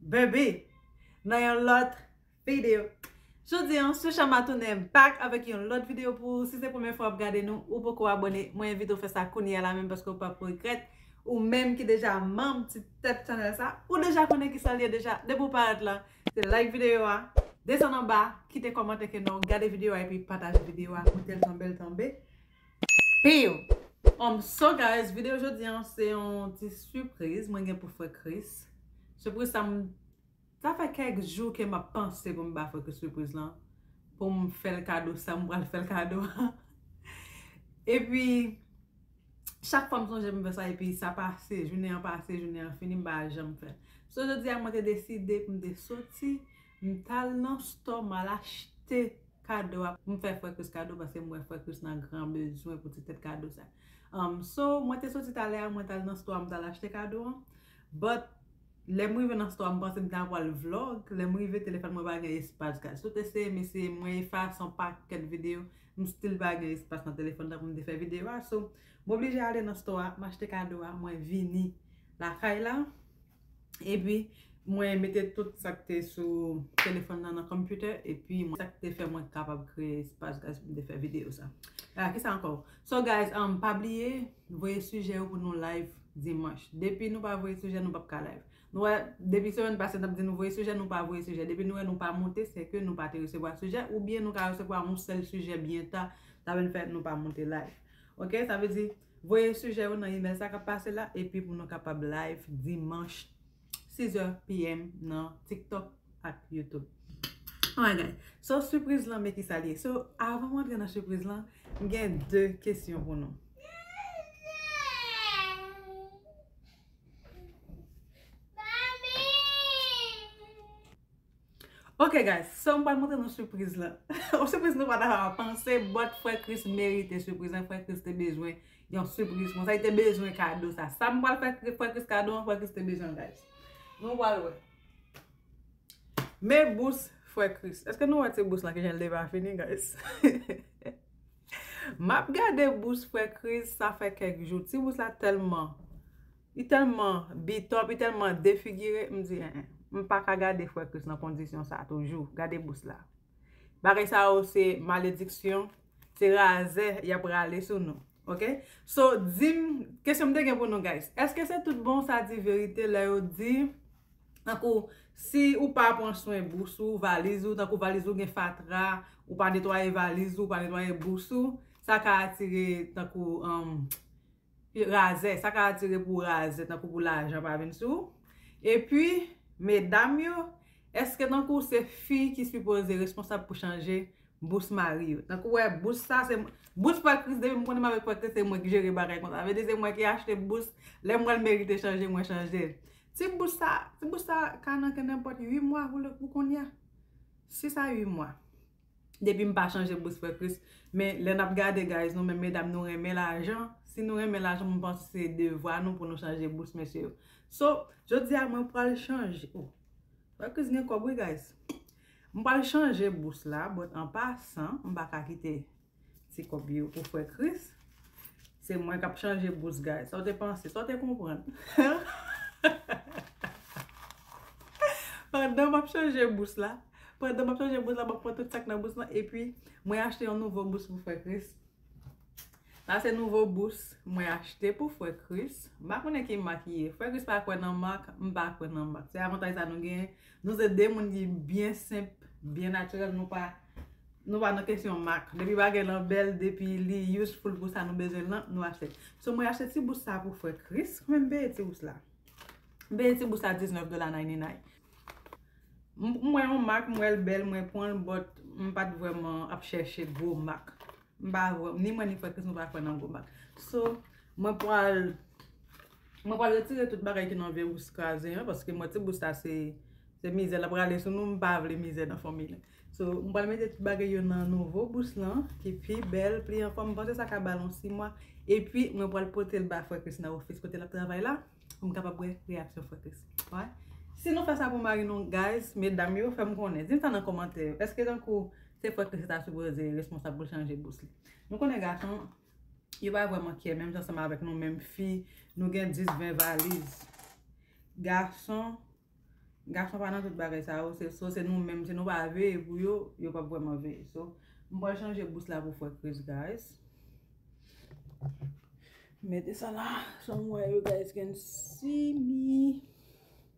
Baby nan yon lòt video. Jodi an sou Shama tounen m back avèk yon lòt video pou ou si se premye fwa wap gade nou ou poko abone mwen envite w fè sa kounye a la menm paske ou pap regrèt ou menm ki deja manm ti tèt channel sa ou deja konnen kisal ye deja depi ou parèt la se like video a desann anba kite kòmantè ke nan w gade video a epi pataje video a pou tel tanbel tanbe Piu! Umm so guys video jodi an se yon ti sipriz mwen gen pou frè Kris Sipriz sa m sa fè kèk jou ke map panse pou m ba frè Kris sipriz lan pou m fèl kado sa m pral fèl kado an epi chak fwa m sonje m fè sa epi sa pase jounen an pase jounen an fini m pa janm fè So jodi a mwen te deside pou m te soti m tal nan store m al achte Kado a m fè frè Chris kado paske m wè frè Chris nan gran bezwen pou ti tèt kado sa um so mwen te soti talè a mwen tal nan store m tal achte kado an but lèm rive nan store a m panse m ta pwal vlog lèm rive telefòn mwen pa gen espas gad sot eseye m eseye mwen efase yon pakèt video m still pa gen espas nan telefòn nan pou m te fè video a so m oblije ale nan store a m achte kado a mwen vini lakay la. Epi mwen mete tout sa k te sou telefòn nan nan konpitè epi mwen sa k te fè mwen kapab kreye espas guys pou m te fè videyo sa. A ki sa ankò? So guys um pa bliye voye sijè yo pou nou live dimanch. Depi nou pa voye sijè nou pap ka live. Nou wè depi semèn pase n ap di nou voye sijè nou pa voye sijè. Depi nou wè nou pa monte se ke nou pa te resevwa sijè oubyen nou ka resevwa yon sèl sijè byen ta sa vin fè nou pa monte live. Ok sa vle di Voye sijè yo nan imèl sa k ap pase la epi pou nou kapab live dimanch 6 zè PM nan TikTok ak YouTube. Oh my God! So sipriz lan men kisa li ye. So avan m antre nan sipriz lan, m gen 2 kesyon pou nou. Ok guys so m pral montre nou sipriz lan yon sipriz nou pa ta panse but frè Kris merite sipriz lan frè Kris te bezwen yon sipriz konsa li te bezwen kado sa sa m pral fè frè Kris kado an frè Kris te bezwen l guys nou pral wè men bous frè Kris èske nou wè ti bous lan ki jan l te pa fini guys m ap gade bous frè Kris sa fè kèk jou ti bous la tèlman Li tèlman bitòp, li tèlman defigire, m di en en. M pa ka gade frè Kris nan kondisyon sa toujou. Gade bous la. Bagay sa yo se malediksyon, se razè y ap rale sou nou. Ok? So, di m, kesyon m te gen pou nou guys, èske se tout bon sa di verite lè yo di, tankou, si ou pa pran swen bous ou, valiz ou, tankou valiz ou gen fatra, ou pa netwaye valiz ou, ou pa netwaye bous ou, sa ka atire tankou, anm. Razè, sa ka atire pou razè tankou pou lajan pa vin sou ou. Epi, medam yo, èske tankou se fi ki sipoze responsab pou chanje bous mari yo? Tankou ou wè bous sa se, bous pè Kris depi m konnen m avèk pè Kris se mwen ki jere bagay konsa. Sa vle di se mwen ki achte bous, lè m wè l merite chanje mwen chanje l. Ti bous sa, ti bous sa ka nan ke nenpòt 8 mwa pou kounye a. 6 a 8 mwa. Depim pa chanje bous frè Chris men lè nap gade guys nou menm medam nou renmen lajan si nou renmen lajan mwen panse se devwa nou pou nou chanje bous mesye yo so jodia mwen pwal chanje oh frè Chris gen kob wi guys m pwal chanje bous la but an pasan m paka kite Ti kob yo pou frè Kris. Se mwen kap chanje bous guys. Sa w te panse? Sa w te konprann? Pandan map chanje bous la, pandan map chanje bous la, map pran tout sak nan bous la, epi mwen achte yon nouvo bous pou frè Kris. Sa se nouvo bous mwen achte pou frè Kris. M pa konnen ki mak li ye. Frè Kris pa kwè nan mak, m pa kwè nan mak. Se avantaj sa nou gen. Nou se de moun ki byen senp, byen natirèl, nou pa nou pa nan kesyon mak. Depi bagay lan bèl, depi li useful pou sa nou bezwen l lan, nou achte. So mwen achte ti bous sa pou frè Kris, kòman m peye ti bous la? M peye ti bous la 19 dola nayninay. M wè yon mak, m wè l bèl, mwen pran l, but m pa t vrèman ap chèche gwo mak. M pa vwe, ni mwen ni frè Kris nou pa kwè nan gwo bak. So, mwen pwal, mwen pwal retire tout bagay ki nan Veyrouss kraze an, paske mwen ti bous la se, se mizè lap rale sou nou, m pa vle mizè nan fanmi la. So, m pwal mete tout bagay yo nan nouvo bous lan, ki pi bèl, pli an fòm, m panse sa ka bal yon 6 mwa. E pi, mwen pwal pote l ba frè Kris nan ofis kote lap travay la, pou m kapab wè reyaksyon frè Kris. Wè? Si nou fè sa pou mari nou, guys, medam yo, fè m konnen. Di m sa nan komantè yo. Eske tankou. Se fòt ke se ta sipoze responsab pou l chanje bous li. Nou konnen gason, yo pa vrèman kyè menm jan seman avèk nou menm fi, nou gen 10, 20 valiz. Gason, gason pa nan tout bagay sa yo, se so se nou menm, si nou pa veye pou yo, yo pa vrèman veye. So, m pwal chanje bous la pou fwè Kris guys. Mete sa la, sa m wè yo guys gen simi.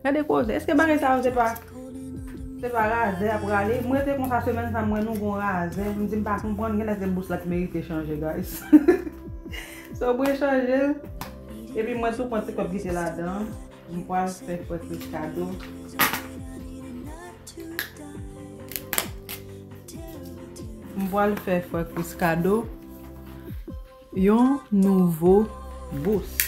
Gade koze, eske bagay sa yo se pa Se pa razè yap rale, m rete konsa semèn sa m wè nou gon razè, m di m pa konprann genlè se bous la ki merite chanje guys So mwen chanje l Epi mwen tou pran ti kòb kite ladan, m pwal fè Fredrick kado M pwal fè Fredrick kado Yon nouvo bous.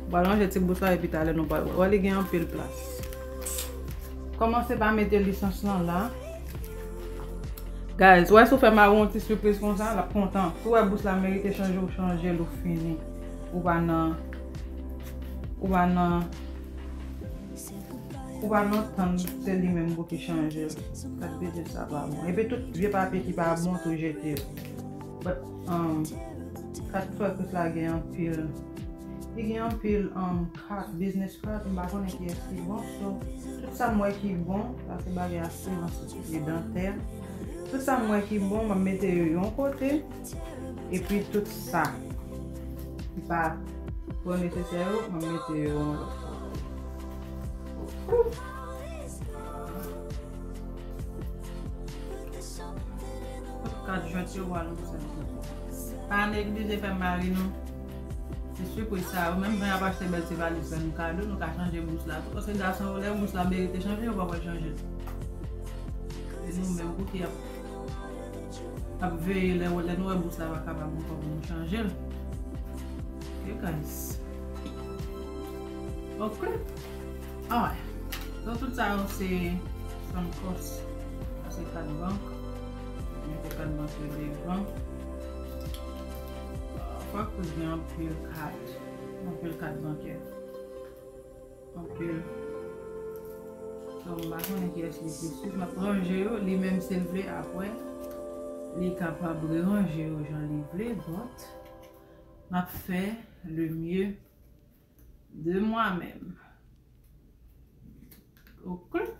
Ou pral manje ti bous la epi talè nou pral wè. Wè li gen anpil plas. Kòmanse pa mete lisans lan la. Guys, wè si ou fè Marou yon ti sipriz konsa, l ap kontan. Si ou wè bous la merite chanje, ou chanje l ou fini. Ou pa nan. Ou pa nan Ou pa nan tann se li menm pou ki chanje l. Sak vle di sa pa bon. Epi tout vye papye ki pa bon tou jete yo. But um Kat frè kris la gen anpil Li gen anpil um kat, business card, m pa konnen kiyès ki bon so tout sa m wè ki bon, sa se bagay asirans, se dantè, tout sa m wè ki bon m ap mete yo yon kote. Epi tout sa ki pa twò nesesè yo, mwen mete yo yon lòt kote. Tout kat jwèt yo wale pou sa. Pa neglije fè mari nou ti sipriz sa yo. Menm jan y ap achte bèl ti valiz fè nou kado, nou ka chanje bous la tou. Paske gason yo lè bous la merite chanje, yo pa pral chanje l. Se nou menm pou ki ap. Ap veye lè lè nou wè bous la pa kapab ankò pou nou chanje l ok guys ok alright so tout sa yo se san kòs sa se kat bank mete kat bank yo devan kwak pou gen anpil kat anpil kat bankè Anpil Mpa konnen kiyès li plis plis map ranje yo li menm sil vle apre li kapab reranje yo jan li vle but map fè le mieux de moi menm ok.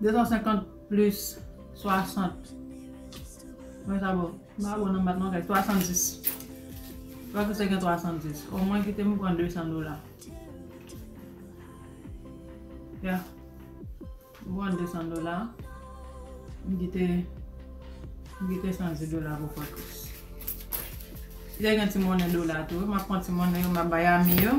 250 plis 60 Mwen sa bon M pa bon nan mat non kay 70 Lwa fè sa gen 70 O mwen kite m pran 200 dola Ya M pran 200 dola M kite M kite 110 dola pou fòkis Si te gen ti monnen dola tou M ap pran ti monnen yo M ap bay ami yo